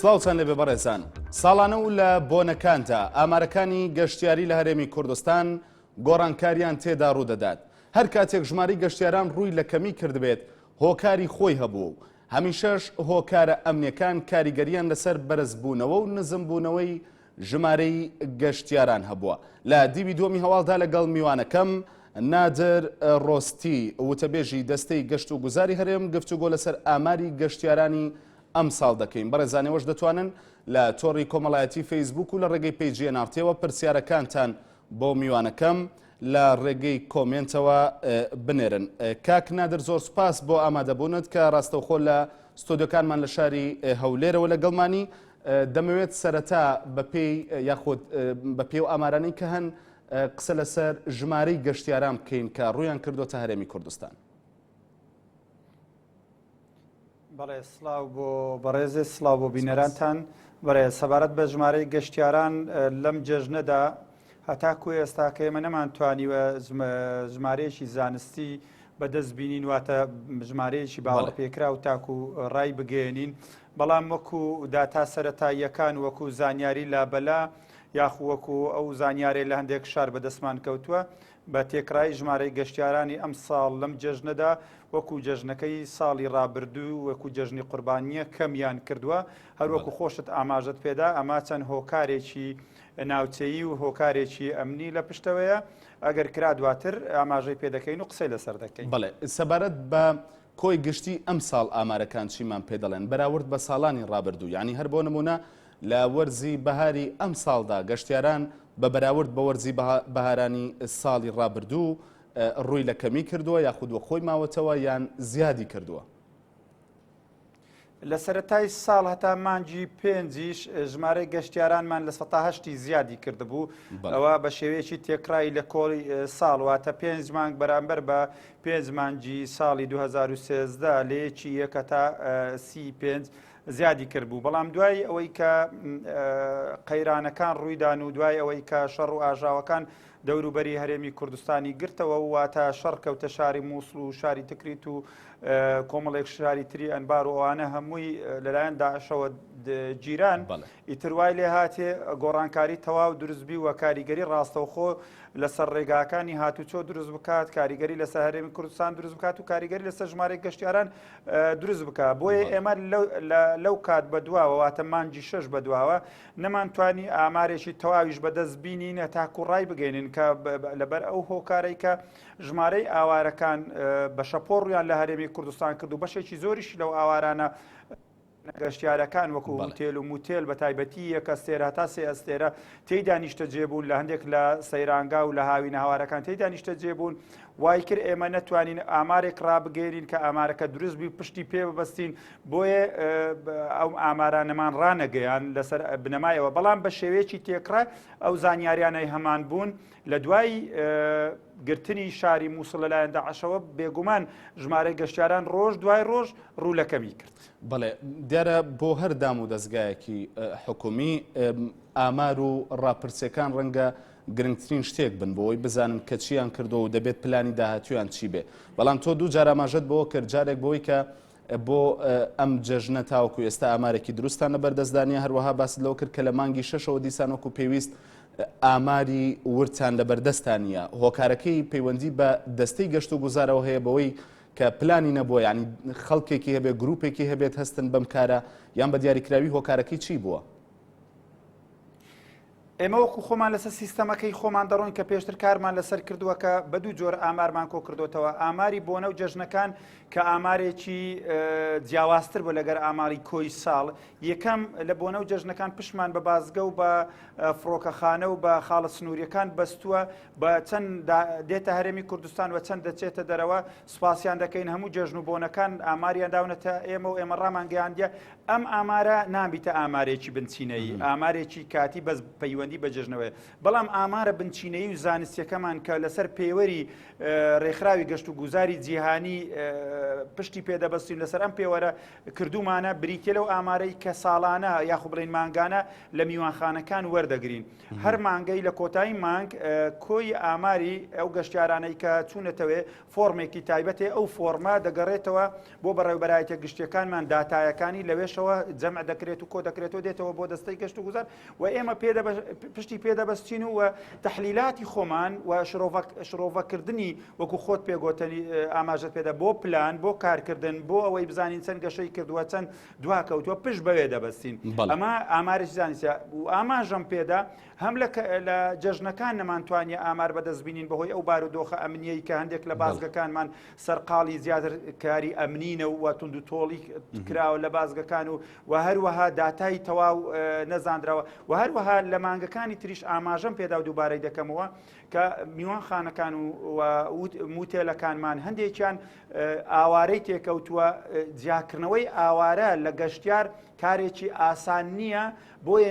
سلااوان لەبێ بەڕێزان ساڵانە و لە بۆنەکاندا ئامارەکانی گەشتیاری لە هەرێمی کوردستان گۆڕانکاریان تێدا ڕوودەدات هەر کاتێک ژماری گەشتیاران ڕووی لە کەمی کردبێت هۆکاری خۆی هەبوو و هەمیشەش هۆکارە ئەمنیەکان کاریگەرییان لەسەر بەرزبوونەوە و نزمبوونەوەی ژمارەی گەشتیاران هەبووە. لە دیوی دووەمی هەواڵدا لەگەڵ میوانەکەم، نادر رۆستی، وتەبێژی دەستەی گەشتوگوزاری هەرێم، گفتوگۆ لەسەر ئاماری گەشتیارانی ئەمساڵ دەکەین. بەڕێزان ئێوەش دەتوانن لە تۆڕی کۆمەڵایەتی فەیسبووک و لە رێگەی پەیجی ئێن ئاڕ تییەوە پرسیارەکانتان بۆ میوانەکەم لە ڕێگەی کۆمێنتەوە بنێرن کاک نادر زۆر سپاس بۆ ئامادەبوونت کە ڕاستەوخۆ لە ستۆدیۆکانمان لە شاری هەولێرەوە لە گەڵمانی دەمەوێت سەرەتا بەپێی یاخود بە پێو ئامارانی کە هەن قسە لەسەر ژمارەی گەشتیاران بکەین کە ڕویان کردوتە هەرێمی کوردستان بەڵێ سڵاو بۆ بەڕێزت سڵاو بۆ بینەرانتان بەڕێز سەبارەت بە ژمارەی گەشتیاران لەم جێژنەدا هەتاکو ئێستا کە ئێمە نەمان توانیوە ژمارەیەکی زانستی بەدەست بینین واتە ژمارەیەکی باوەڕ پێکرا و تاکو ڕای بگەێنین بەڵام وەکو داتا سەتاییەکان وەکو زانیاری لابەلا یاخوەکو ئەو زانیارێ لە هەندێک شار بەدەستمان کەوتووە بە تێکڕای ژمارەی گەشتیارانی ئەمساڵ لەم جەژنەدا وەکو جەژنەکەی ساڵی ڕابردوو وەکو جەژنی قوربانییە کەمیان کردووە، هەروەکو خۆشت ئاماژەت پێدا ئەمە چەند هۆکارێکی ناوچەیی و هۆکارێکی ئەمنی لە پشتەوەیە، ئەگەر کرا دواتر ئاماژەی پێ دەکەین و قسەی لەسەر دەکەین. بەڵێ، سەبارەت بە کۆی گشتی ئەمساڵ ئامارەکان چیمان پێ دەڵێن بەراورد بە ساڵانی ڕابردوو، یانی هەر بۆ نموونە لە وەرزی بەهاری ئەمساڵدا گەشتیاران بە بەراورد بە وەرزی بەهارانی ساڵی رابردوو رووی لە کەمی کردووە یاخود وەخۆی ماوەتەوە یان زیادی کردووە؟ لە سەرەتای ساڵ هەتا مانگی پێنجیش ژمارەی گەشتیارانمان لە سەتا هەشتی زیادی کردبوو ئەوە بە شێوەیەکی تێکڕایی لە کۆڵی ساڵ واتە پێنج مانگ بەرامبەر بە پێنج مانگی ساڵی 2013 لەیەکی یەکە تا سی پێنج زیادی کردبوو، بەڵام دوای ئەوەی کە قەیرانەکان ڕوویدان و دوای ئەوەی کە شەڕ و ئاژاوەکان دەوروبەری هەرێمی کوردستانی گرتەوە و واتە شەڕ کەوتە شاری مووسڵ و شاری تکریت و کۆمەڵێک شاری تری ئەنبار و ئەوانە هەمووی لەلایەن داعشەوە گیران ئیتر وای لێ هاتێ گۆڕانکاری تەواو دروستبی و کاریگەری ڕاستەوخۆ لەسەر ڕێگاکانی هاتوچۆ دروست بکات کاریگەری لەسەر هەرێمی کوردستان دروست بکات و کاریگەری لەسەر ژمارە گەشتیاران دروست بکا بۆیە ئێمە لەو کات بە دواوە واتە مانجی شەش بە دواوە نەمان توانی ئامارێکی تەواویش بەدەست بینین هەتاکو ڕای بگەینن کە لەبەر ئەو هۆکارەی کە ژمارەی ئاوارەکان بە شەپۆڕیان لە هەرێمی کوردستان کرد و بەشێکی زۆریش لەو ئاوارانە نەگەشتیارەکان وەکو هوتێل و موتێل بە تایبەتی یەک ئەستێرە هەتا سێ ئەستێرە تێیدا نیشتەجێ بوون لە هەندێک لە سەیرانگا و لە هاوینە هەوارەکان تێیدا نیشتەجێ بوون وای کرد ئێمە نەتوانین ئامارێک ڕابگەێنین کە ئامارەکە دروست بووی پشتی پێ ببستین بۆیە ئەو ئامارانەمان ڕانەگەیان لەسەر بنەمایەوە بەڵام بە شێوەیەکی تێکڕای ئەو زانیاریانەی هەمان بوون لە دوای گرتنی شاری مووسڵ لەلایەن داعشەوە بێگومان ژمارە گەشتیاران ڕۆژ دوای ڕۆژ ڕوو لەکەمی کرد. بەڵێ دیارە بۆ هەر دام و دەزگایەکی حکومی ئامار و ڕاپرسیەکان ڕەنگە گرنگترین شتێک بن بۆی بزانن کە چیان کردو و دەبێت پلانی داهاتویان چی بێ بەڵام تۆ دوو جاراماژەت بۆ کرد جارێک بۆی کە بۆ ئەم جەژنە تاوەکو ئێستا ئامارێکی دروستان لە بەردەستدانە هەروەها باست لەو کرد کە لە مانگی شەشەوە دیسانۆکو پێویست ئاماری ورتان لە بەردەستانە هۆکارەکەی پەیوەندی بە دەستەی گەشت و گوزارەوە هەیە بەوەی کە پلانی نەبووە یانی خەڵکێکی هەبێت گروپێکی هەبێت هەستن بەم کارە یان بە دیاریکراوی هۆکارەکەی چی بووە؟ ئێمە وەکو خۆمان لەسەر سیستەمەکەی خۆمان دەڕۆین کە پێشتر کارمان لەسەر کردووە کە بە دوو جۆر ئامارمان کۆ کردوتەوە ئاماری بۆنە و جەژنەکان کە ئامارێکی جیاوازتر بۆ لەگەر ئاماری کۆی ساڵ یەکەم لە بۆنە و جەژنەکان پشمان بە بازگە و بە فڕۆکەخانە و بە خاڵە سنووریەکان بەستووە بە چەند دێتە هەرێمی کوردستان و چەند دەچێتە دەرەوە سوپاسیان دەکەین هەموو جێژن و بۆنەکان ئاماریان داونەتە ئێمە و ئێمە ڕامانگەیاندە ئەم ئامارە نابیتە ئامارێکی بنچینەیی ئامارێکی کاتی بەس پەیوەندی بە جێژنەوەی بەڵام ئامارە بنچینەیی و زانستیەکەمان کە لەسەر پێوەری ڕێکخراوی گەشت و گوزاری جیهانی پشتی پێدەبەستین لەسەر ئەم پێوەرە کردومانە بریتە لەو ئامارەی کە ساڵانە یاخو بڵین مانگانە لە میوانخانەکان وەردەگرین هەر مانگەی لە کۆتایی مانگ کۆی ئاماری ئەو گەشتیارانەی کە چوونەتەوێ فۆرمێکی تایبەتێ ئەو فۆرمە دەگەڕێتەوە بۆ بەڕێوبەرایەتە گشتیەکانمان داتایەکانی لەوێشەوە جەمع دەکرێت و کۆ دەکرێتەوە دێتەوە بۆ دەستەی گەشت و گوزار و ئێمە پێ پشتی پێدەبەستین و تحلیلاتی خۆمان و شرۆڤەکردنی وەکو خۆت پێگۆتەنی ئاماژت پێدا بۆ پلان بۆ کارکردن بۆ ئەوەی بزانین چەند گەشەی کردووە چەند دواکەوتووە پشت بەوێ دەبەستین ئەمە ئامارێکی زانسیە و ئاماژەم پێدا هەم لە جەژنەکان نەمانتوانانی ئامار بەدەست بینین بەهۆی ئەو بار و دۆخە ئەمنیەی کە هەندێک لە بازگەکانمان سەرقاڵی زیاتر کاری ئەمنینە و تونند و تۆڵی کراوە لە بازگەکان و و هەروەها داتای تەواو نەزانراوە و هەروەها لە مانگەکانی تریش ئاماژەم پێدا و دووبارەی دەکەمەوە کە میوانخانەکان و موتێلەکانمان هەندێکیان ئاوارەی تێکەوتووە جیاکردنەوەی ئاوارە لە گەشتیار کارێکی ئاسان نییە بۆیە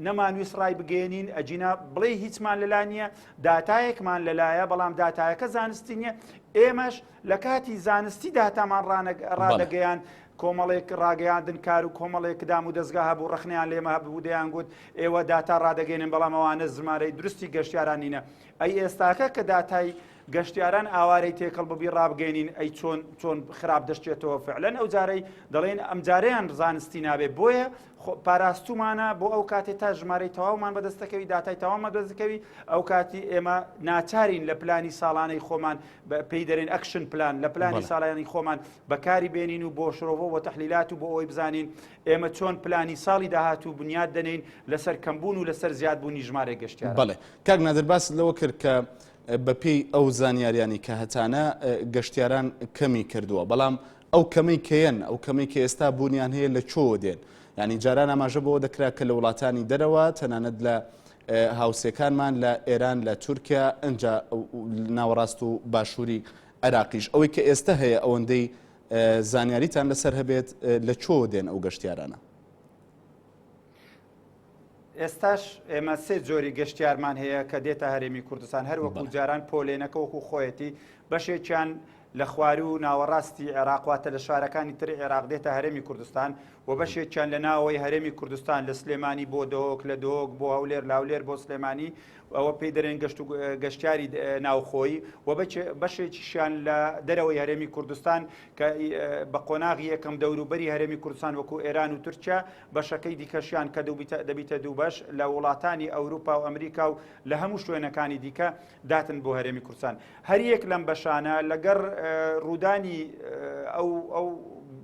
نەمانویست ڕای بگەێنین ئەجینا بڵێ هیچمان لەلا نییە داتایەکمان لەلایە بەڵام داتایەکە زانستی نییە ئێمەش لە کاتی زانستی داتامان ڕادەگەیان کۆمەڵێک ڕاگەیاندن کار و کۆمەڵێک دام و دەستگا هەبوو ڕخنیان لێمە هەبوو دەیان گوت ئێوە داتا ڕدەگەێنن بەڵامەوانە زمارەی درستی گەشتیارانینە ئەی ئێستاکە کە داتای گەشتیاران ئاوارەی تێکەڵ ببی ڕابگەینین ئەی چۆن چۆن خراپ دەشتێتەوە فعلەن ئەو جارەی دەڵێن ئەم جارەیان زانستی نابێ بۆیە پاراستومانە بۆ ئەو کاتێ تا ژمارەی تەواومان بەدەستەکەوی داتای تاوامە دەستەکەوی ئەو کاتی ئێمە ناچارین لە پلانی ساڵانەی خۆمان پێی دەرێن ئەکشن پلان لە پلانی ساڵانی خۆمان بەکاری بێنین و بۆ شرۆڤۆ و تحلیلات و بۆ ئەوی بزانین ئێمە چۆن پلانی ساڵی داهات و بنیاد دەنین لەسەر کەمبوون و لەسەر زیادبوونی ژمارە گەشتیان بڵێ کاک نادرباس لەوە کرد کە بەپێی ئەو زانیاریانەی کە هەتانە گەشتیاران کەمی کردووە بەڵام ئەو کەمەی کەیەن ئەو کەمەی کە ئێستا بوونیان هەیە لە چۆوە دێن ینی جاران ئاماژە بەوە دەکرا کە لە وڵاتانی دەرەوە تەنانەت لە هاوسێکانمان لە ئێران لە تورکیا ئەجا ناوەڕاست و باشووری عراقیش ئەوەی کە ئێستا هەیە ئەوەندەی زانیاریتان لەسەر هەبێت لە چۆ دێن ئەو گەشتیارانە ئێستاش ئێمە سێ جۆری گەشتیارمان هەیە کە دێتە هەرێمی کوردستان هەر وەکو جاران پۆلێنەکە وەکو خۆیەتی بەشێکیان لە خوار و ناوەڕاستی عێراقواتە لە شارەکانی تر عێراق دێتە هەرێمی کوردستان و بەشێکیان لە ناوەوەی هەرێمی کوردستان لە سلێمانی بۆ دۆک لە دۆک بۆ هەولێر لاولێر بۆ سلێمانی ئەوە پێی دەرێن گەشت و گەشتیاری ناوخۆی و بەشێکیشیان لە دەرەوەی هەرێمی کوردستان کە بە قۆناغی یەکەم دەوروبەری هەرێمی کوردستان وەکو ئێران و تورکیا بەشەکەی دیکەشیان کە دەبیتە دوو بەش لە وڵاتانی ئەوروپا و ئەمریکا و لە هەموو شوێنەکانی دیکە داتن بۆ هەرێمی کوردستان هەریەک لەم بەشانە لەگەڕ ڕوودانی ئەو ئەو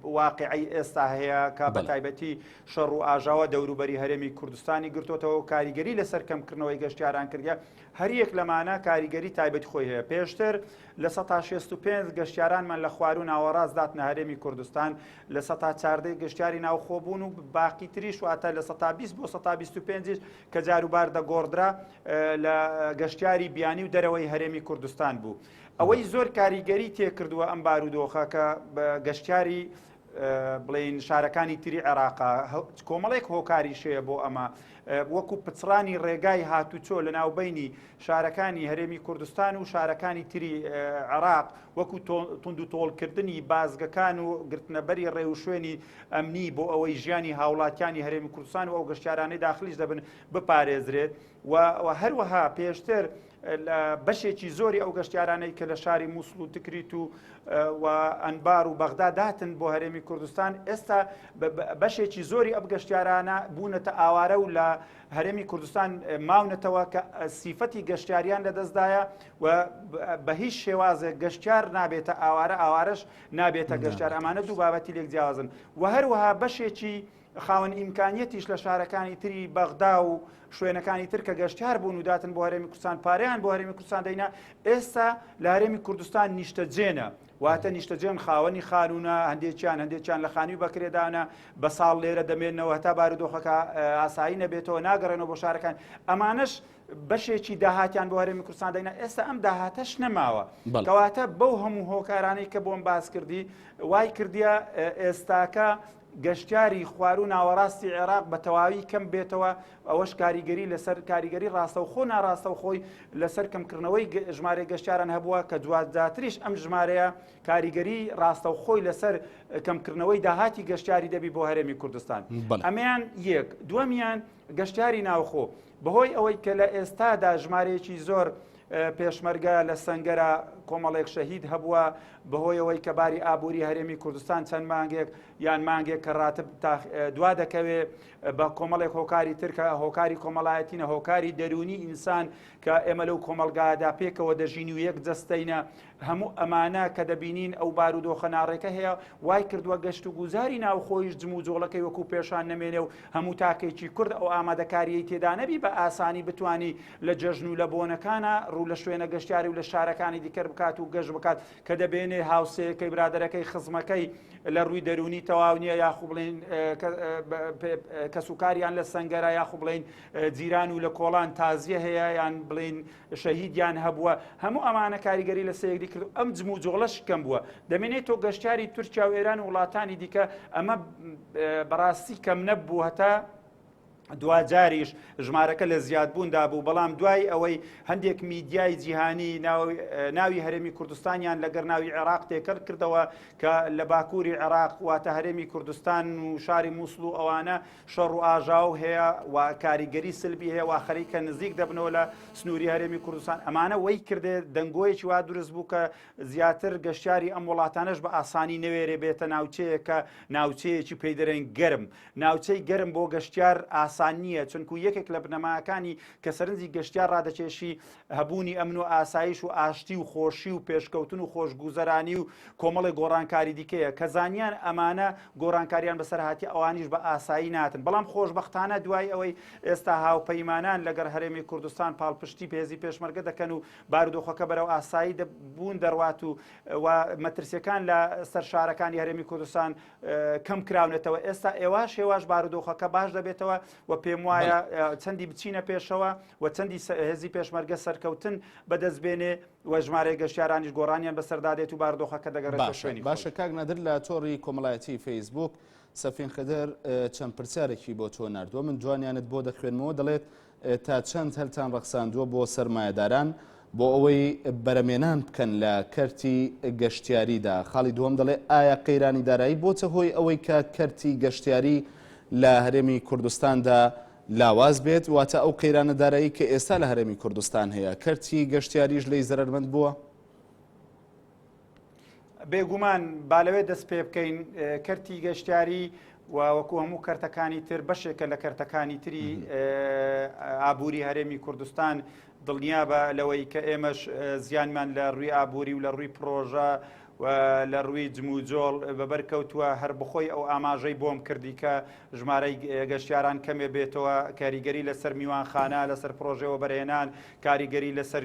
واقعی ئێستا هەیە کە بە تایبەتی شەڕ و ئاژاوە دەوروبەری هەرێمی کوردستانی گرتوتەوە کاریگەری لەسەر کەمکردنەوەی گەشتیاران کردە هەریەک لەمانە کاریگەری تایبەتی خۆی هەیە، پێشتر لە سەتا شێست و پێنج گەشتیارانمان لە خواروو ناوەڕاست داتنە هەرێمی کوردستان، لە سەتا چاردە ی گەشتیاری ناوخۆ بوون و باقی تریش واتە لە سەتا بیست بۆ سەتا بیست و پێنج یش کە جاروبار دەگۆڕدرا لە گەشتیاری بیانی و دەرەوەی هەرێمی کوردستان بوو. ئەوەی زۆر کاریگەری تێکردووە ئەم بارودۆخە کە گەشتیاری بڵێین شارەکانی تری عێراقا کۆمەڵێک هۆکاری شەیە بۆ ئەمە وەکو پچڕانی ڕێگای هاتوچۆ لە ناوبینی شارەکانی هەرێمی کوردستان و شارەکانی تری عراق وەکو تونند و تۆڵکردنی بازگەکان و گرتنەبەری ڕێوشوێنی ئەمنی بۆ ئەوەی ژیانی هاوڵاتیانی هەرێمی کوردستان و ئەو گەشتارانەی داخلیش دەبن بپارێزرێت و هەروەها پێشتر لە بەشێکی زۆری ئەو گەشتیارانەی کە لە شاری مووسڵ و تکریت و و ئەنبار و بەغدا داتن بۆ هەرێمی کوردستان ئێستا بەشێکی زۆری ئەب گەشتیارانە بوونەتە ئاوارە و لە هەرێمی کوردستان ماونەتەوە کە سیفەتی گەشتیاریان لەدەستدایە و بە هیچ شێوازێک گەشتیار نابێتە ئاوارە ئاوارش نابێتە گەشتار ئەمانە دوو بابەتی لێک جیاوازن و هەروەها بەشێکی خاوەن ئیمکانیەتیش لە شارەکانی تری بەغدا و شوێنەکانی تر کە گەشتار بوون و داتن بۆ هەرێمی کوردستان پارەیان بۆ هەرێمی کوردستان دەینا ئێستا لە هەرێمی کوردستان نیشتەجێنە واتە نیشتەجێن خاوەنی خانوونە هەندێکیان هەندێکیان لە خانووی بەکرێدانە بە ساڵ لێرە دەمێنەوە هەتا بارودۆخەکە ئاسایی نەبێتەوە ناگەڕێنەوە بۆ شارەکان ئەمانەش بەشێکی داهاتیان بۆ هەرێمی کوردستان دەینا ئێستا ئەم داهاتەش نەماوە کەواتە بەو هەموو هۆکارانەی کە بۆم باس کردی وای کردیە ئێستاکە گەشتیاری خواروو ناوەڕاستی عێراق بە تەواوی کەم بێتەوە ئەوەش کاریگەری لەسەر کاریگەری ڕاستەوخۆ ناڕاستەوخۆی لەسەر کەمکردنەوەی ژمارە گەشتیاران هەبووە کە دواتریش ئەم ژمارەیە کاریگەری ڕاستەوخۆی لەسەر کەمکردنەوەی داهاتی گەشتیاری دەبی بۆ هەرێمی کوردستان ئەمیان یەک دووەمیان گەشتیاری ناوخۆ بەهۆی ئەوەی کە لە ئێستادا ژمارەیەکی زۆر پێشمەرگە لە سنگەرە کۆمەڵێک شەهید هەبووە بەهۆیەوەی کە باری ئابووری هەرێمی کوردستان چەند مانگێک یان مانگێک کە ڕاتب دوا دەکەوێ بە کۆمەڵێک هۆکاری ترکە هۆکاری کۆمەڵایەتینە هۆکاری دەرونی ئینسان کە ئێمە لەو کۆمەلگادا پێکەوە دەژین و یەک جستینە هەموو ئەمانە کە دەبینین ئەو بارودۆخە ناڕێکە هەیە وای کردووە گەشت و گوزاری ناوخۆیش جموجۆڵەکەی وەکو پێشان نەمێنێ و هەموو تاکێکی کورد ئەو ئامادەکاریی تێدانەبی بە ئاسانی بتانی لە جەژن و لە بۆنەکانە ڕوو لە شوێنە گەشتیاری و لە شارەکانی دیکەر بکات و گەشت بکات کە دەبێنێ هاوسەیەکەی برادەرەکەی خزمەکەی لە ڕووی دەرونی تەواو نییە یاخو بڵین کەسوکاریان لە سنگەرە یاخو بڵین جیران و لە کۆڵان تازیە هەیە یان بڵین شەهیدیان هەبووە هەموو ئەمانە کاریگەری لە سەیەکدی کرد ئەم جموجۆڵەش کەم بووە دەمێنێت تۆ گەشتیاری تورکیا و ئێران و وڵاتانی دیکە ئەمە بەڕاستی کەم نەبوو هەتا دواجاریش ژمارەکە لە زیادبووندا بوو بەڵام دوای ئەوەی هەندێک میدیای جیهانی ناوی هەرێمی کوردستانیان لەگەر ناوی عێراق تێکەر کردەوە کە لە باکووری عێراق واتە هەرێمی کوردستان و شاری مووسڵ و ئەوانە شەڕ و ئاژاو هەیە و کاریگەری سلبی هەیە و خەریکە نزیک دەبنەوە لە سنووری هەرێمی کوردستان ئەمانە وەی کردێ دەنگۆیەکی وا دروست بوو کە زیاتر گەشتیاری ئەم وڵاتانش بە ئاسانی نەوێرێ بێتە ناوچەیەکە ناوچەیەکی پێی دەرێن گەرم ناوچەی گەرم بۆ گەشتیار ئاسان نییە چونکو یەکێک لە بنەماکانی کە سەرنجی گەشتیار ڕادەکێشی هەبوونی ئەمن و ئاسایش و ئاشتی و خۆشی و پێشکەوتن و خۆشگوزەرانی و کۆمەڵی گۆڕانکاری دیکەیە کە زانیان ئەمانە گۆرانکاریان بەسەرهاتی ئەوانیش بە ئاسایی ناتن بەڵام خۆشببختانە دوای ئەوەی ئێستا هاوپەیمانان لەگەر هەرێمی کوردستان پاڵپشتی پێزی پێشمەرگە دەکەن و بارودۆخەکە بەرەو ئاسایی بوون دەڕوات و و مەترسیەکان لە سەر شارەکانی هەرێمی کوردستان کەم کراونەتەوە ئێستا ئێواش هێواش بارودۆخەکە باش دەبێتەوە و پێم وایە چەندی بچینە پێشەوە و چەندی هێزی پێشمەرگە سەرکەوتن بەدەست بێنێ و ژمارەی گەشتیارانیش گۆڕانیان بەسەردادێت و باردۆخەکە دەگەڕێتە شوێنی خۆی. باشە کاک نادر لە تۆڕی کۆمەڵایەتی فەیسبووک سەفین خدر چەند پرسیارێکی بۆ تۆ نردووە من جوانیانت بۆ دەخوێنمەوە دەڵێت تا چەند هەلتان ڕەخساندووە بۆ سەرمایەداران بۆ ئەوەی بەرەمێنان بکەن لە کەرتی گەشتیاریدا خاڵی دووەم دەڵێ ئایا قەیرانی دارایی بۆتە هۆی ئەوەی کە کەرتی گەشتیاری لە هەرێمی کوردستاندا لاواز بێت، واتە ئەو قەیرانە دارایی کە ئێستا لە هەرێمی کوردستان هەیە، کەرتی گەشتیاریش لێی زەرەرمەند بووە؟ بێگومان، با لەوێ دەست پێ بکەین، کەرتی گەشتیاری و وەکو هەموو کەرتەکانی تر بەشێکە لە کەرتەکانی تری ئابووری هەرێمی کوردستان، دڵنیابە لەوەی کە ئێمەش زیانمان لە ڕووی ئابووری و لە ڕووی پڕۆژە و لە ڕووی جموجۆڵ بەبەر کەوتووە هەر بخۆی ئەو ئاماژەی بۆم کردی کە ژمارەی گەشتیاران کەمێ بێتەوە کاریگەری لەسەر میوانخانە لەسەر پرۆژێوە بەرهێنان کاریگەری لەسەر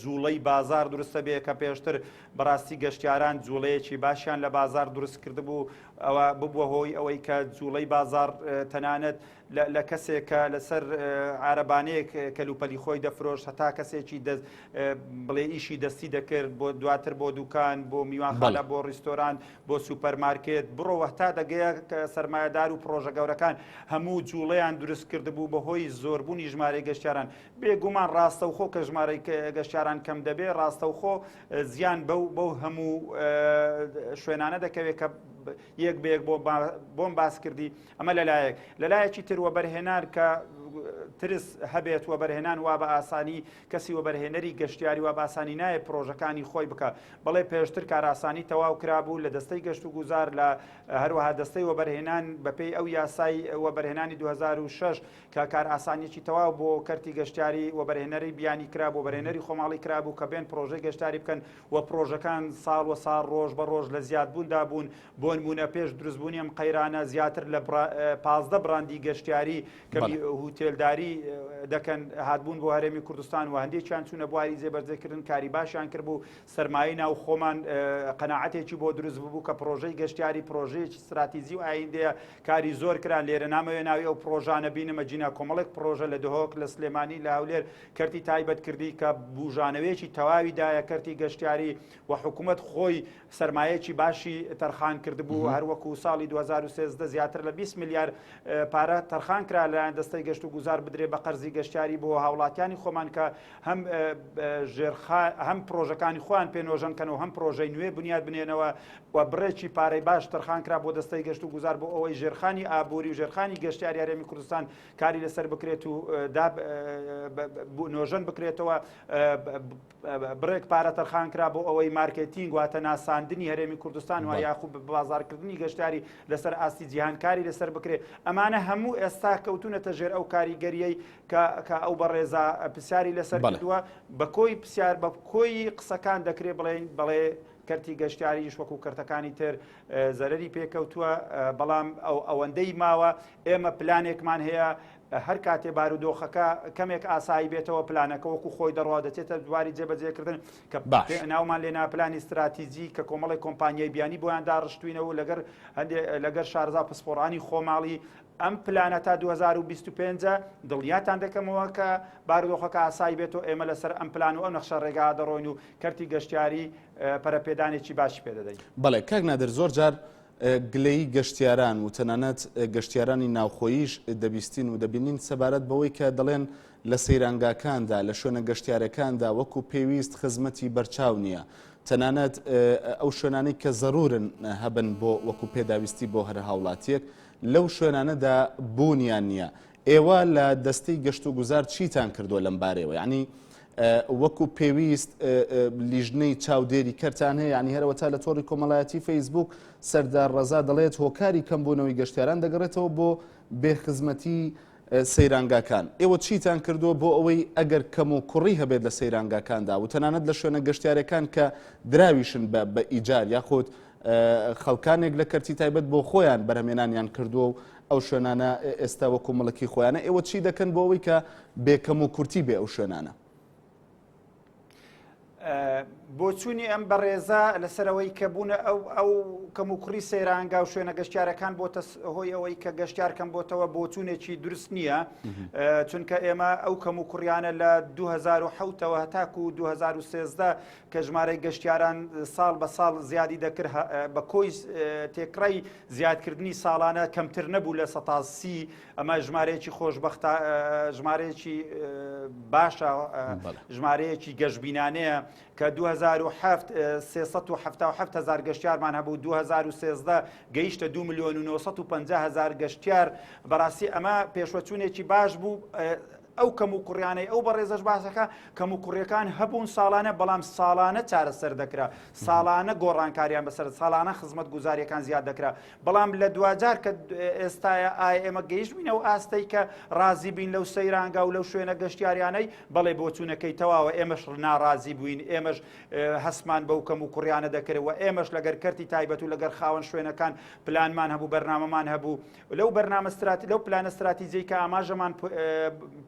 جوڵەی بازار دروستە بێ کە پێشتر بەڕاستی گەشتیاران جوڵەیەکی باشیان لە بازار دروست کردبوو ئەوە ببووە هۆی ئەوەی کە جوڵەی بازار تەنانەت لە لە کەسێک کە لەسەر عارەبانەیەک کەلوپەلی خۆی دەفرۆشت هەتا کەسێکی دەست بڵێ ئیشی دەستی دەکرد بۆ دواتر بۆ دوکان بۆ میوانخانە بۆ ڕیستۆران بۆ سوپەرمارکێت بڕۆ هەتا دەگەیە کە سەرمایەدار و پڕۆژە گەورەکان هەموو جوڵەیان دروست کردبوو بەهۆی زۆربوونی ژمارەی گەشتیاران بێگومان ڕاستەوخۆ کە ژمارەی گەشتیاران کەم دەبێ ڕاستەوخۆ زیان بەو بەو هەموو شوێنانە دەکەوێت کە یەک بەیەک بۆ بۆم باس کردی ئەمە لەلایەک لەلایەکی تر وەبەرهێنان کە ترس هەبێت وەبەرهێنان وا بە ئاسانی کەسی وەبەرهێنەری گەشتیاری وا باسانی نایە پرۆژەکانی خۆی بکە بەڵێ پێشتر کاراسانی تەواو کرابوو لە دەستەی گەشت و گوزار لە هەروەها دەستەی وەبەرهێنان بەپێی ئەو یاسای وەبەرهێنانی 2006 کە کار ئاسانیکی تەواو بۆ کەرتی گەشتیاری وەبەرهێنەری بیانی کرا بۆ بەرێنەری خۆماڵی کرابوو کە بێن پرۆژەی گەشتاری بکەن و پڕۆژەکان ساڵ وە ساڵ ڕۆژ بە ڕۆژ لە زیاد بووندا بوون، بۆنموونە پێش دروست بوونی ئەم قەیرانە زیاتر لە پازدە بڕاندی گەشتیاری کە هوتێلداری دەکەن هاتبوون بۆ هەرێمی کوردستان و هەندێکیان چوونە بواری جێبەرجێ کردن کاری باشیان کرد بوو سەرمایەی ناو خۆمان قەناعەتێکی بۆ دروست ببوو کە پڕۆژەی گەشتیاری پڕۆژەیەکی ستراتیزی و ئایندەیە کاری زۆر کران لێرە نامەوێ ناوی ئەو پڕۆژانە بینمە جینا کۆمەڵێک پڕۆژە لە دهۆک لە سلێمانی لە هەولێر کەرتی تایبەت کردی کە بوژانەوەیەکی تەواوی دایە کەرتی گەشتیاری و حکوومەت خۆی سرمایەکی باشی تەرخان کردبوو هەروەکو ساڵی 2013 زیاتر لە 20 ملیار پارە تەرخان کرا لەلایەن دەستەی گەشت و گوزار بدرێ بە قەرزی گەشتیاری بۆ هاوڵاتیانی خۆمان کە هەم ژێرخا هەم پرۆژەکانی خۆیان پێنۆژەن کەنەوە هەم پرۆژەی نوێ بنیاد بنێنەوە و بڕێکی پارەی باش تەرخان کرا بۆ دەستەی گەشت و گوزار بۆ ئەوەی ژێرخانی ئابووری و ژێرخانی گەشتیاری هەرێمی کوردستان کاری لەسەر بکرێت و داب نۆژەن بکرێتەوە بڕێک پارە تەرخان کرا بۆ ئەوەی مارکێتینگ واتە ناساندنی هەرێمی کوردستان و یاخوب بە بازارکردنی گەشتاری لەسەر ئاستی جیهانکاری لەسەر بکرێت ئەمانە هەموو ئێستا کەوتونەتە ژێر ئەو کاریگەریەی کە ئەو بەڕێزا پرسیاری لەسەر بەدووە بە کۆی پرسیار بە کۆی قسەکان دەکرێت بڵێن بەڵێ کەرتی گەشتیاریش وەکو کەرتەکانی تر زەرری پێکەوتووە بەڵام ئەو ئەوەندەی ماوە ئێمە پلانێکمان هەیە هەر کاتێ بارودۆخەکە کەمێک ئاسایی بێتەوە پلانەکە وەکو خۆی دەڕوا دەچێتە دواری جێبەجێکردن کە ناومان لێ ناپلانی استراتیزی کە کۆمەڵی کۆمپانیای بیانی بۆیان داڕشتوینەوە لەگەر هەندێک لەگەر شارزا پسپۆڕانی خۆماڵی ئەم پلانە تا 2025 دڵنیاتان دەکەمەوە کە بارودۆخەکە ئاسایی بێت و ئێمە لەسەر ئەم پلان و ئەو نەخشە ڕێگا دەڕۆین و کەرتی گەشتیاری پەرەپێدانێکی باش پێدەدەین بەڵێ کاک نادر زۆر جار گلەیی گەشتیاران و تەنانەت گەشتیارانی ناوخۆییش دەبیستین و دەبینین سەبارەت بەوەی کە دەڵێن لە سەیرانگاکاندا، لە شوێنە گەشتیارەکاندا وەکو پێویست خزمەتی بەرچاو نییە. تەنانەت ئەو شوێنانەی کە زەروورن هەبن بۆ وەکو پێداویستی بۆ هەر هاوڵاتییەک، لەو شوێنانەدا بوونیان نییە. ئێوە لە دەستەی گەشت و گوزار چیتان کردووە لەم بارەیەوە؟ یانی وەکو پێویست لیژنەی چاودێری کەرتان هەیە؟ یانی هەرەوە تا لە تۆڕی کۆمەڵایەتی فەیسبووک سەردار ڕەزا دەڵێت هۆکاری کەمبوونەوەی گەشتیاران دەگەڕێتەوە بۆ بێ خزمەتی سەیرانگاکان ئێوە چیتان کردووە بۆ ئەوەی ئەگەر کەم و کوڕی هەبێت لە سەیرانگاکاندا و تەنانەت لە شوێنە گەشتارەکان کە دراویشن بە بە ئیجار یاخود خەڵکانێک لە کەرتی تایبەت بۆ خۆیان بەرهمێنانیان کردووە و ئەو شوێنانە ئێستا وەکو مڵکی خۆیانە ئێوە چی دەکەن بۆ ئەوەی کە بێکەم و کورتی بێ ئەو شوێنانە؟ بۆچوونی ئەم بەڕێزە لەسەرەوەی کە بوونە ئەو ئەو کەم و کوڕی سەیرانگا و شوێنە گەشتارەکان بۆ هۆی ئەوەی کە گەشتار کەم بۆتەوە بۆچوونێکی درست نییە چونکە ئێمە ئەو کەم و کوڕیانە لە 2010ەوە هەتاکو 2013 کە ژمارەی گەشتیاران ساڵ بە ساڵ زیادی دەکرد بە کۆی تێکڕای زیادکردنی ساڵانە کەمتر نەبوو لە سەتا سی ئەمە ژمارەیەکی خۆشببختە ژمارەیەکی باشە ژمارەیەکی گەشببینانەیە کە 2007 هزار گەشتارمان هەبوو 2013 گەیشتە 2 میلیۆن و 950 هزار گەشتار بەڕاستی ئەمە پێشوەچوونێکی باش بوو ئەو کەموکوڕیانەی ئەو بەڕێزەش باسەکە، کەموکوڕیەکان هەبوون ساڵانە، بەڵام ساڵانە چارەسەر دەکرا، ساڵانە گۆڕانکاریان بەسەر، ساڵانە خزمەتگوزاریەکان زیاد دەکرا، بەڵام لە دواجار کە ئێستایا ئایا ئێمە گەیشتبینە ئەو ئاستەی کە ڕازی بین لەو سەیرانگا و لەو شوێنە گەشتیاریانەی؟ بەڵێ بۆچوونەکەی تەواوە، ئێمەش ناڕازی بووین، ئێمەش هەستمان بەو کەموکوڕیانە دەکرد و ئێمەش لەگەر کەرتی تایبەت و لەگەر خاوەن شوێنەکان پلانمان هەبوو، بەرنامەمان هەبوو، لەو بەرنامە سترات لەو پلانە ستراتیجەی کە ئاماژەمان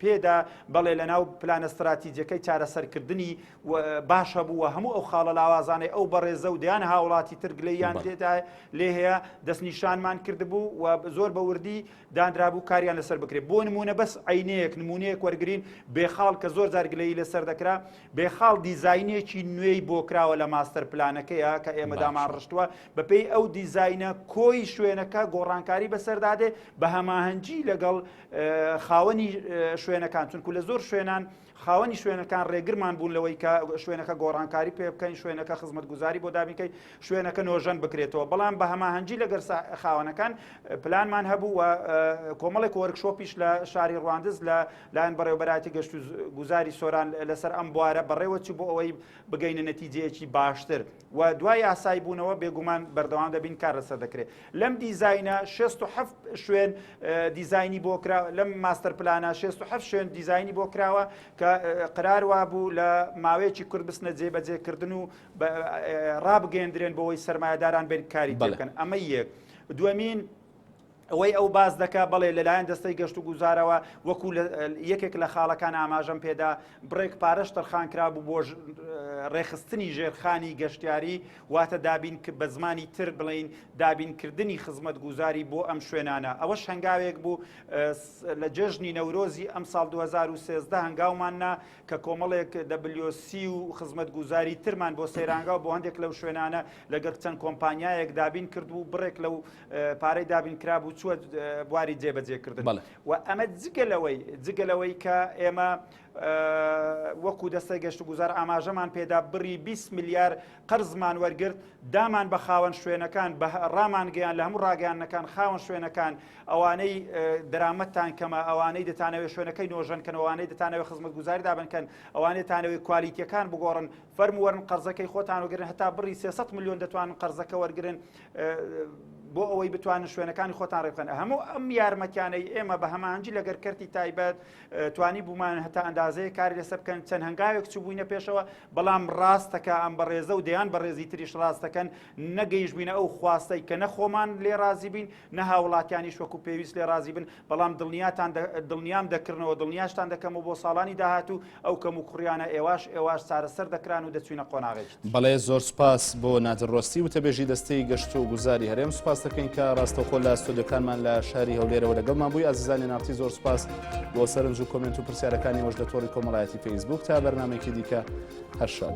پێدا بەڵێ لە ناو پلانە ستراتیجەکەی چارەسەرکردنی باش هەبوو و هەموو ئەو خاڵە لاوازانەی ئەو بەڕێزە و دیان هاوڵاتی ترگلیان تێدا لێ هەیە دەستنیشانمان کردبوو و زۆر بە وردی دانرابوو کاریان لەسەر بکرێت بۆ نمونە بەس عینەیەک نمونەیەک وەرگین بێخاڵ کە زۆر زارگلەی لەسەر دەکرا بێخاڵ دیزینێکی نوێی بۆ کراوە لە ماستەر پلانەکەیە کە ئێمەدامان ڕشتووە بەپێی ئەو دیزاینە کۆی شوێنەکە گۆڕانکاری بەسەردادێ بە هەماهەنگی لەگەڵ خاوەنی شوێنەکان چونکو لە زۆر شوێنان خاوەنی شوێنەکان ڕێگرمان بوون لەوەی کە شوێنەکە گۆڕانکاری پێ بکەین شوێنەکە خزمەت گوزاری بۆ دابینکەی شوێنەکە نۆژەن بکرێتەوە بەڵام بە هەماهەنگی لەگەر خاوەنەکان پلانمان هەبوو و کۆمەڵێک وەرکشۆپیش لە شاری ڕواندز لە لایەن بەڕێوبەراتی گەشت و گوزاری سۆران لەسەر ئەم بوارە بەڕێوەچی بۆ ئەوەی بگەینە نەتیجەیەکی باشتر. و دوا یاسایی بوونەوە بێگومان بەردەوام دەبین کار لەسەر دەکرێت لەم دیزاینە 67 شوێن دیزایانی بۆ کرا لەم ماستەر پلانە 67 شوێن دیزایانی بۆ کراوە کە قرار وا بوو لە ماوەیەکی کورد بستنە جێبەجێکردن و ڕابگەندرێن بۆەوەی سرمایهداران بێن کاری بکەن ئەمە یەک دومین ئەوەی ئەو باس دەکا، بەڵێ لەلایەن دەستەی گەشتوگوزارەوە وەکو لە یەکێک لە خاڵەکان ئاماژەم پێدا، بڕێک پارەش تەرخانکرابوو بۆ رێکخستنی ژێرخانی گەشتیاری، واتە دابین بە زمانی تر بڵێین دابینکردنی خزمەتگوزاری بۆ ئەم شوێنانە، ئەوەش هەنگاوێک بوو لە جێژنی نەورۆزی ئەمساڵ دوو هەزار و سێزدە هەنگاومان نا کە کۆمەڵێک دەبلیۆ سی و خزمەتگوزاری ترمان بۆ سەیرانگا و بۆ هەندێک لەو شوێنانە لەگەڵ چەند کۆمپانیایەک دابین کردبوو، بڕێک لەو پارەی دابینکرابوو چووە بواری جێبەجێکردن و ئەمە جگەلەوەی جگەلەوەی کە ئێمە وەکو دەستەی گەشت و گوزار ئاماژەمان پێدا بڕی 20 میلیار قەرزمان وەرگرت دامان بە خاوەن شوێنەکان بە ڕامانگەیان لە هەموو ڕاگەیانەکان خاوەن شوێنەکان ئەوانەی دەرامەتان کەمە ئەوانەی دەتانەوێ شوێنەکەی نۆژەن کەنەوانەی دەتانەوە خزمەت گوزاری دابنکەن ئەوانێتانەوەی کوالیتیەکان بگۆڕن فەرموەرن قەرزەکەی خۆتان وگرن هەتا بڕی 300 میلیۆن دەتوان قەرزەکە وەرگن بۆ ئەوەی بتوانن شوێنەکانی خۆتان ڕێبخەن هەموو ئەم یارمەتیانەی ئێمە بە هەمانجی لەگەر کەرتی تایبەت توانی بوومان هەتا ئەندازەیە کاری لەسەر بکەن چەند هەنگاوێک چوو بووینە پێشەوە بەڵام ڕاستەکە ئەم بەڕێزە و دەیان بەڕێزی تریش ڕاستەکەن نەگەیش بووینە ئەو خواستەی کە نەخۆمان لێ رازی بین نە هاوڵاتیانیش وەکو پێویست لێ رازی بن بەڵام دڵنیاتان دڵنیام دەکردنەوە دڵنیاشتان دەکەم و بۆ ساڵانی داهاتوو ئەو کەم و کوڕیانە ئێواش ئێواش چارەسەر دەکران و دەچوینە قۆناغێکی تر. بەڵێ زۆر سوپاس بۆ نادر ڕۆستی وتەبێژی دەستەی گەشت و گوزاری هەرێم سوپاست دەکەین کە ڕاستەوخۆ لە ستۆدیۆکانمان لە شاری هەولێرەوە لەگەڵمان بووی ئازیزانی ناڕتی زۆر سوپاس بۆ سەرنج و کۆمێنت و پرسیارەکانی وەش لە تۆڕی کۆمەڵایەتی فەیسبوک تا بەرنمێکی دیکە هەرشاد.